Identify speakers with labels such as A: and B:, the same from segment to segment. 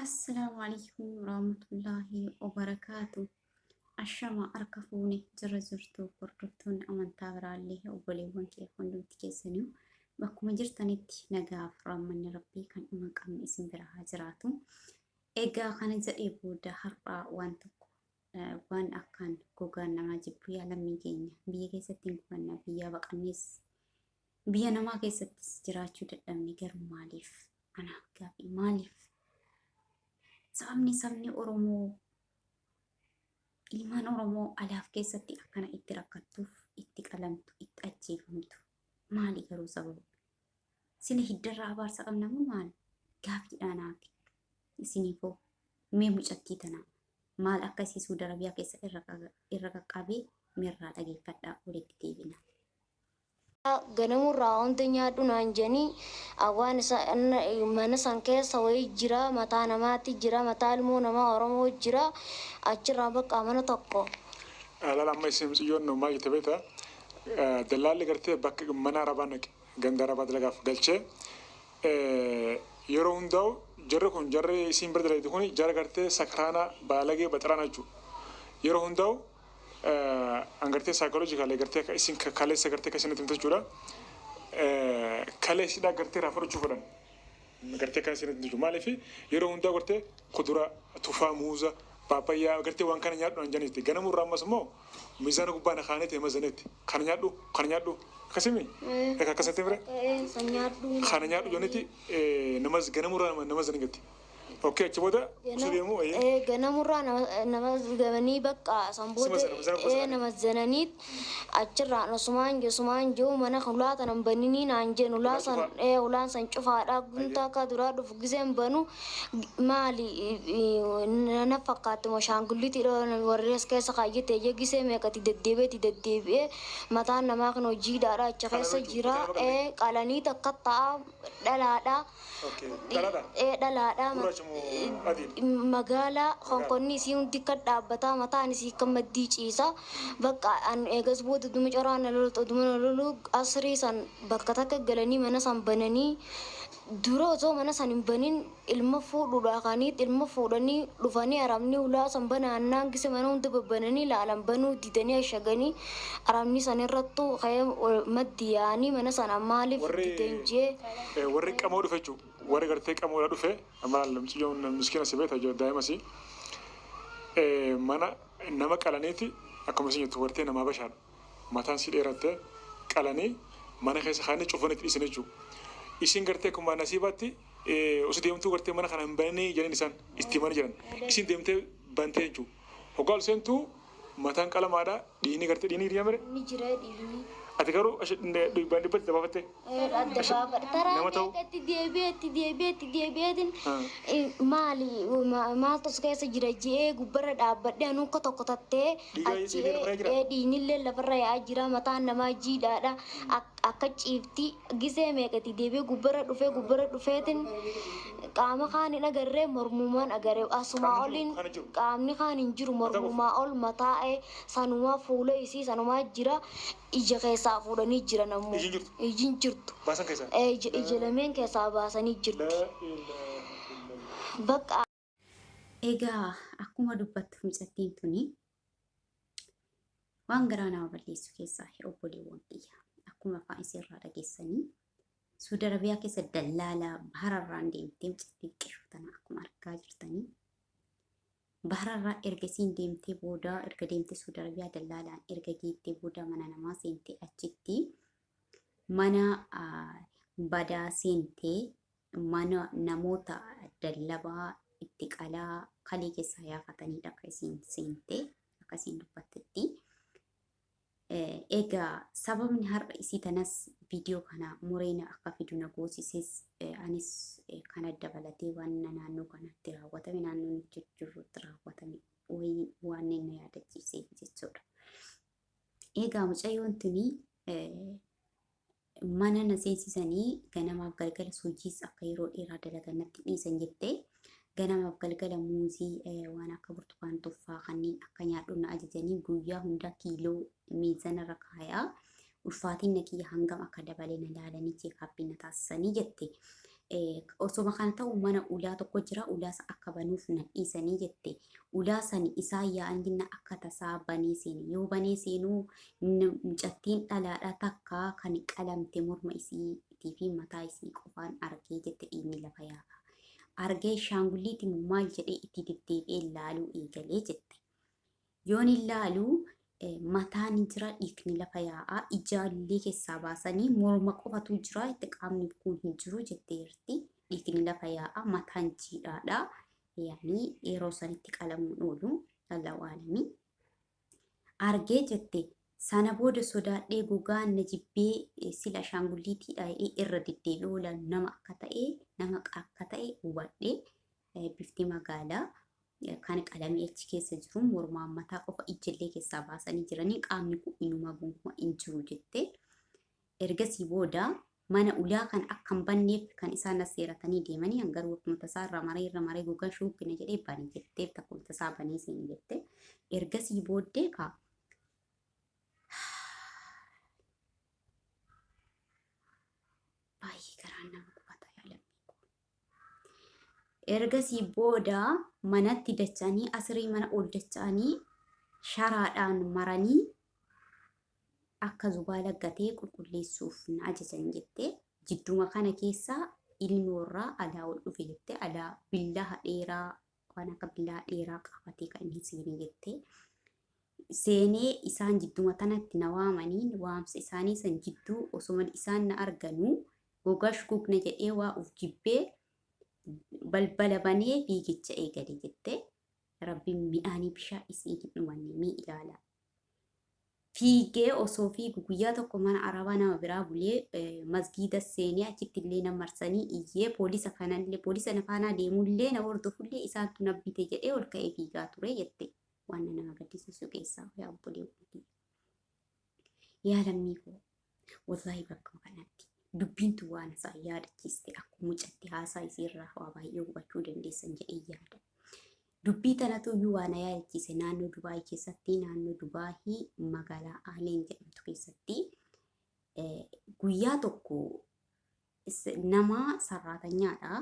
A: Assalaamu alaikum warahmatullaahi wabarakaatu. Ashama harka fuune jira jirtu hordoftoonni amantaa biraallee obboleewwan kee hundumti keessaniyu bakkuma jirtanitti nagaaf raammanni rabbii kan dhuma qabne isin bira haa jiraatu. Egaa kana jedhee booda har'aa waan tokko waan akkaan gogaan namaa jibbu yaa lammii keenya biyya keessatti hin gubanna biyyaa baqannees biyya namaa keessattis jiraachuu dadhabne garuu maaliif anaaf gaafii maaliif sababni sabni oromoo ilmaan oromoo alaaf keessatti akkana itti rakkattuuf itti qalamtu itti ajjeefamtu maali garuu sababa sila hiddarraa abaarsa qabnamu maal gaafiidhaa naaf isiniifoo mee mucattii tanaa maal akka isii Suudi Arabiyaa keessa irra qaga- irra qaqqabe mirraa dhageeffadhaa walitti deebina. ganamurraa
B: hunda nyaadhu naan jedhanii awwaan isa mana san keessa wayii jira mataa namaati jira mataa ilmoo namaa oromoo jira achirraa bakka mana tokko Alaal amma
C: isin miciyyoon nu maal jette beekta dallaalli gartee bakka mana arabaa naqe ganda arabaa dalagaaf galchee Yeroo hundaa'u jarri kun jarri isiin bira dalaydu kun jara gartee sakraana baalagee baxaraana jechu yeroo hundaa'u an gartee psychologically gartee akka isiin kaleessa gartee akka isiin natti himte jechuudha kalee isidhaa gartee irraa fudhachuu fedhan gartee kan isiin natti himte jechuudha maaliif yeroo hundaa'u gartee kudura tufaa muuza paapayyaa gartee waan kana nyaadhu an janitti ganamuu irraa ammas immoo miizaana gubbaa na kaanee ta'e mazanetti Kana nyaadhu kana nyaadhu akkasimi eka akkasatti fire kana nyaadhu joniti namas ganamurraa nama nama sani gatti okkee achi booda usu deemu ee ganamurraa
B: nama gamanii bakka san booda Sima sana, sina ee kuusan. nama zananiit achirraan osumaan josumaan joo mana hulaa tanan baninii naan jeen hulaa san Cufaa, ee hulaan san cufaadha guntaa kaa duraa dhufu Gizeen banu maali na fakkaatti moo shaangullitii warri as keessa kaayyate ija gisee meeqati deddeebi'ee itti deddeebi'ee mataan namaa kan hojii hidhaadha achi keessa jira qalanii takka ta'a dhalaadha dhalaadha magaalaa konkonni isii hundi kan dhaabbataa mataan isii kan maddii ciisa bakka an eegas booda duma coraa na loltu duma na lolu asrii san bakka takka galanii mana san bananii Dura osoo mana san hin banin ilma fuudhuudhaa ka'aniit ilma fuudhanii dhufanii Arabni hulaa san banaa hannaan gise mana hunda babbananii laalan banuu didanii ashaganii Arabni san irrattu ka'ee maddi yaa'anii mana sana maaliif Warri didan jee eh, warri qamoo
C: dhufe jechuu warri gartee qamoodha dhufe maal mucayyoon miskiina si beekta jo- daa'imasi Eh, mana nama qalaniiti akkuma isin jettu wartee namaa bashaadha mataan sii dheeratte qalanii mana keessa kaa'anii cufanii itti dhiisan jechuu isiin gartee akkumaa nasiibaatti osoo deemtuu gartee mana kana hin bananii jedhan isaan itti himanii jedhan isiin deemtee bantee jechuu hoggaa ol seentuu mataan qalamaadha dhiinii gartee dhiinii dhiinamire Ni jira dhiirri.
B: ati garuu ash-
C: dhibbaan dhibbatti dabaafattee adda baafadha.
B: Karaa Nama ta'u. meeqa itti deebi'ee itti deebi'ee itti deebi'eetiin Hmm. eh, maali ma- maaltu si keessa jira je'ee gubbarra dhaabbadhee anuu akka tokko tattee Dhiiga- achi dhiiga dhufaa jira? ee dhiignillee lafarra yaa'aa jira mataan namaa jiidhaadha Ak- akka ciifti gisee meeqa itti deebi'ee gubbarra dhufee gubbarra dhufeetiin qaama kaan hin agarree mormumaan agaree asumaa Qaamni oliin kaan hin jiru. qaamni kaan hin jiru Mataa qofa. mormumaa ol mataa'ee sanumaa fuula isii sanumaa jira Ija keessaa fuudhanii jiran ammoo. Iji hin jirtu. Iji hin jirtu. Baasan keessaa. Ee, ija, ija lameen keessaa baasanii jirti. Laa ilaaha illallah.
A: Bakka Egaa akkuma dubbattu mucattiin tuni waan garaa nama balleessu keessaa hin obboleewwan kiyya. Akkuma afaan isiirraa dhageessanii Suudi Arabiyaa keessa dallaalaa bahararraan deemtee mucattiin qishuu tana akkuma argaa jirtanii Bahrarra erga isiin deemtee booda erga deemtee Suudi Arabiyaa dallaalaan erga geettee booda mana namaa seentee achitti mana badaa seentee mana namoota dallabaa itti qalaa kalee keessaa yaafataniidha akka isiin seentee akka isiin dubbattetti. Egaa sababni har'a isii tanas viidiyoo kana muree na akka fidu na goosises anis kana dabalatee waan naannoo kanatti raawwatame naannoo nuti jirrutti raawwatame wayii waan na yaadachiiseef jechuudha. Egaa mucayyoon tuni mana na seensisanii ganamaaf galgala hojiis akka yeroo dheeraa dalagan natti dhiisan jettee ganamaaf galgala muuzii waan akka burtukaan tuffaa kanneen akka nyaadhu na ajajanii guyyaa hundaa kiiloo miizanarra kaayaa ulfaatiin na kiyya hangam akka dabalee na laalanii cheekaappii na taasisanii jette. osoma kana ta'u mana ulaa tokko jira ulaa sa akka banuuf na dhiisanii jette ulaa sani isaa yaa'an jinna akka tasaa banee seene yoo banee seenuu mucattiin dhalaadha takka kan qalamte morma isiitii fi mataa isii qofaan argee jette dhiigni lafa yaa'a argee shaangulliiti maal jedhee itti deddeebi'ee laaluu eegalee jette Yoon ilaalu mataa ni jira dhiigni lafa yaa'a ijaallee keessaa baasanii morma qofatu jira itti qaamni kun hin jiru jettee jirti dhiigni lafa yaa'a mataan jiidhaadha yaani yeroo sanitti qalamuun oolu allahu aalamii argee jette sana booda sodaadhee gogaa na jibbee sila ashaangulliitii dha'ee irra deddeebi'uula nama akka ta'e nama akka ta'e hubadhe bifti magaalaa kan qalamii achi keessa jiru mormaan mataa qofa ijjillee keessaa baasanii jiranii qaamni kun inuma gonkumaa hin jiru jette. Ergasii booda mana ulaa kan akka hin banneef kan isaan as seeratanii deemanii an garuu akkuma tasaa irra maree irra maree gogaa shuubbina jedhee bani jettee akkuma tasaa banee seeni jette. Ergasii booddee kaa baay'ee garaan nama gubata yaa lammii koo. Ergasii booda manatti dacha'anii asirii mana ol dacha'anii sharaadhaan maranii akka zubaala gatee qulqulleessuuf na ajajan jette. Jidduma kana keessa ilmi warraa alaa ol dhufe jette. Alaa billaha dheeraa waan akka bilaa dheeraa qaabatee kan inni seenee jette. Seenee isaan jidduma tanatti na waamaniin waamsa isaanii san jidduu osoma isaan na arganuu gogash gugna jedhee waa uf jibbee balbala banee fiigicha eegale jette. Rabbiin mi'aanii bishaa isiin hin dhumanne mii ilaala. fiigee osoo fiigu guyyaa tokko mana arabaa nama biraa bulee masgiida seenee achitti illee na marsanii iyyee poolisa kanallee poolisa na faanaa deemullee na hordofullee isaantu na bite jedhee ol ka'ee fiigaa ture jette waan nama gaddisiisu keessaa yaa obboleewwan yaa lammii koo Wallaahi bakkuma kanatti dubbiin tun waan isaan yaadachiiste akkuma mucatti haasaa isii irraa waa baay'ee hubachuu dandeessan jedhee yaada. Dubbii tanatu iyyuu waan na yaadachiise naannoo Dubaayii keessatti naannoo Dubaayii magaalaa Aleen jedhamtu keessatti eh, guyyaa tokko s- nama sarraatanyaadha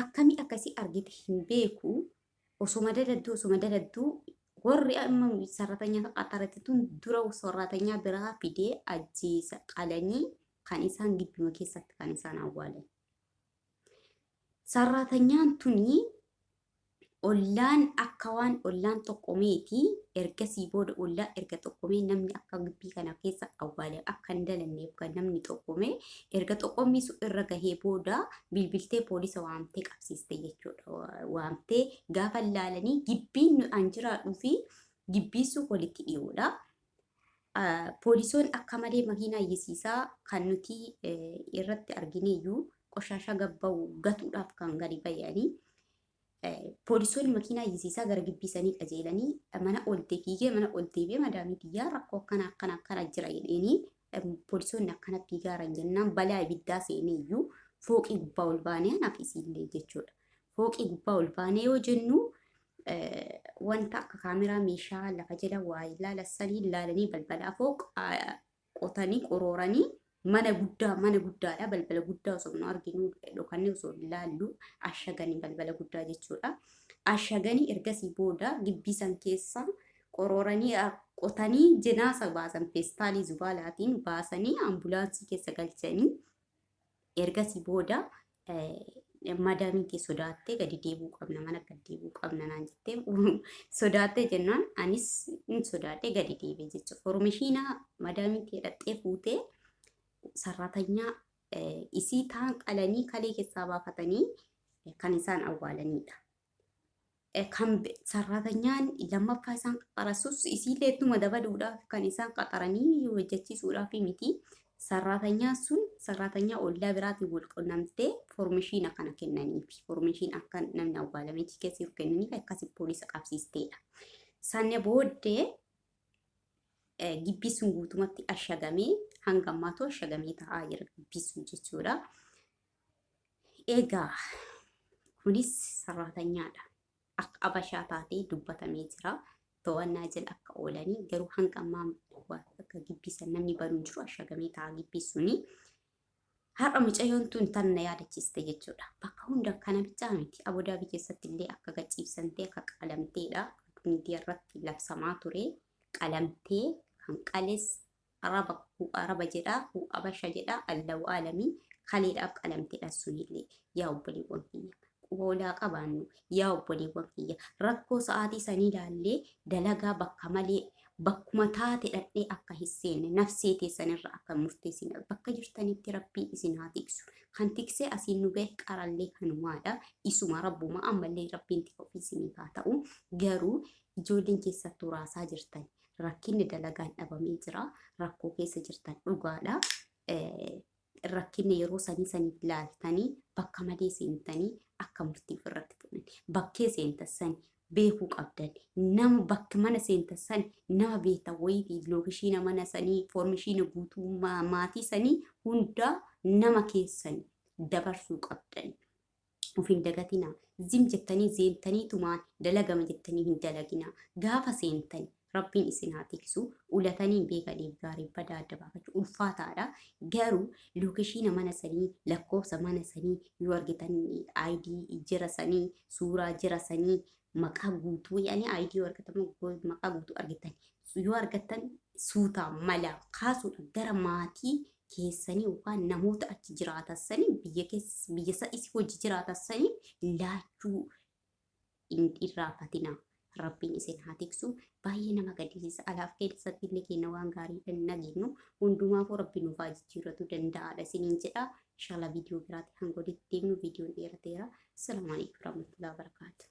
A: akkami akka si argite hin beeku osoma daladdu osoma daladdu warri amma sarratanya qaxarate tun dura sarratanya biraa fidee ajjeesa qalanii kan isaan gidduma keessatti kan isaan awwaalan. Sarratanyaan tuni Ollaan akka waan ollaan xoqomeeti. Ergasii booda ollaan erga xoqomee namni akka gibbii kana keessa awwaale akka hin dalanneef kan namni xoqome erga xoqommii sun irra gahee booda bilbiltee poolisa waamtee qabsiiste jechuudha. Wa- Waamtee gaafa laalanii gibbiin nu- an jiraadhuu fi gibbiin sun walitti dhiyoodha. Ah, Poolisoon akka malee makiinaa iyyisiisaa kan nuti eh, irratti argineeyyuu qoshaashaa gabba'u gatuudhaaf kan gadi ba'anii Poolisoonni makiinaa yisiisaa gara gibbii sanii qajeelanii mana ol deebiigee mana ol deebi'ee madaamii biyyaa rakkoo akkana akkana akkana jira jedheenii poolisoonni akkana fiigaaran jennaan balaa ibiddaa seenee iyyuu fooqii gubbaa ol baanee anaaf isiillee jechuudha. Fooqii gubbaa ol baanee yoo jennu wanta akka kaameraa meeshaa lafa jala waa ilaala sanii ilaalanii balbalaa fooq qotanii qorooranii mana guddaa mana guddaadha balbala guddaa osoo nu arginu dhokannee osoo ilaallu ashaganii balbala guddaa jechuudha. Ashaganii ergasii booda gibbii san keessa qorooranii qotanii jinaasa baasan feestaalii zubaalaatiin baasanii ambulaansii keessa galchanii Ergasii booda madaamiin kee sodaattee gadi deebi'uu qabna mana gadi deebi'uu qabna naan jettee sodaattee jennaan anis hin sodaadhee gadi deebi'e jechuudha. Formishiina madaamiin kee dhaxxee fuutee sarratanyaa isii taan qalanii kalee keessaa baafatanii kan isaan awwaalanidha. kan sarratanyaan lammaffaa isaan qaxarasus isiillee ittuma dabaluudhaaf kan isaan qaxaranii hojjechiisuudhaaf miti. Sarratanyaan sun sarratanyaa ollaa biraatiin wal qunnamtee foormishiina kana kennaniif foormishiin akka namni awwaalamee jiru keessa jiru kennaniif akkasi poolisa qabsiisteedha. Sanne booddee gibbii sun guutumatti ashagamee hanga ammaatu ashagamee ta'aa jira gibbii sun jechuudha. Egaa kunis sarraatanyaadha. Akka abashaa taatee dubbatamee jira. To'annaa jala akka oolanii garuu hanga ammaa akka gibbiisan namni banuun jiru ashagamee ta'a gibbii suni. Har'a mucayyoon tun tan na yaadachiiste jechuudha. Bakka hunda kana bichaa miti. Abudaabi keessatti illee akka gachiibsantee akka qalamteedha. Miidiyaa irratti labsamaa ture qalamtee kan qales araba hu araba jedha hu abasha jedha allahu alami kaleedhaaf qalamtedha sunillee yaa obboleewwan kiyya quboolaa qabaannu yaa obboleewwan kiyya rakkoo sa'aatii sanii ilaallee dalagaa bakka malee bakkuma taate dhadhee akka hin seenne nafsee teessanirra akka hin murteessine bakka jirtanitti rabbii isin haa tiksu kan tiksee asiin nu gahe qarallee kanumaadha isuma rabbuma ammallee rabbiin tika ofii isiniif haa ta'u garuu ijoolleen keessattuu raasaa jirtan rakkinni dalagaan dhabamee jira. Rakkoo keessa jirtan dhugaadha. Rakkinni yeroo sanii saniif laaltanii bakka malee seentanii akka murtiif irratti fuudhan. Bakkee seentan sani beekuu qabdan. Nama bakka mana seentan sani nama beektan wayitii lookishiina mana sanii foormishiina guutuu maatii sanii hundaa nama keessan dabarsuu qabdan. Of hin dagatinaa. Zim jettanii zeentanii tumaan dalagama jettanii hin dalaginaa. Gaafa seentani Rabbiin isin haa tiksu. Ulatanii hin beekaniif gaarii badaa adda baafachuu ulfaataadha. Garuu lookeshiina mana sanii, lakkoofsa mana sanii yoo argitan ID jira sanii, suuraa jira sanii, maqaa guutuu yaani ID yoo argatan moo go- maqaa guutuu argitan. Yoo argattan suutaa malaa kaasuudha gara maatii keessanii yookaan namoota achi jiraatassanii biyya keessa biyya isa isi hojii jiraatassanii laachuu hin irraafatinaa. Rabbiin isin haa tiksu. Baay'ee nama gaddisiisa. Alaaf keessatti illee kenna waan gaarii hin nageenyu. Hundumaafuu rabbi nuuf haa jijjiirratu danda'aadha isiniin jedha. Inshallah viidiyoo biraatti hanga walitti deemnu viidiyoon dheerateera. Assalamu alaikum warahmatullahi wabarakatuh.